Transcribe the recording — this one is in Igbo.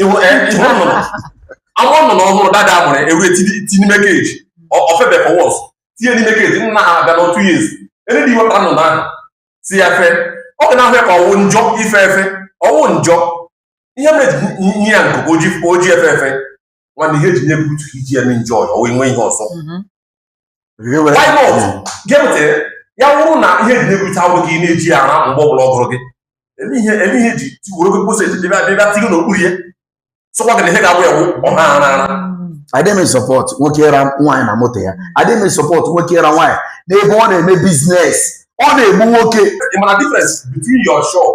ị hụ eh, ị hụ nnụnụ anwụ nnụnụ ọhụrụ that day a mụrụ e we ti ti n'ime keji Ọ- o febe for once tinye n'ime keji nna ha abịa na two years any day i wepụta nnụnụ ahụ sị ya fe ọ ga na-ahụ ya ka ọ wụ njọ ife efe ọ wụ njọ ihe mere e ji nye ya nku ka o ji o ji efe efe nwanne ihe e ji nye gị utu i ji ya n'njọ ya o nwe ihe ọzọ mhm. gịnị ya wụrụ na ihe e ji nye gị utu awụrụ gị na-eji ya ara mgbe ọ bụla ọ gụrụ gị eme ihe eme ihe ji tiworo gị kwụsị e ji bịa bịa ti gị n'okpuru ya sọkwa gị na ihe ga-agwụ ya wụ ọ na-ara ara adịghị m a support nwoke ịra nwaanyị na moto ya adịghị m a support nwoke ịra nwaanyị n'ebe ọ na-eme business ọ na-egbu nwoke ị ma na difference between your shop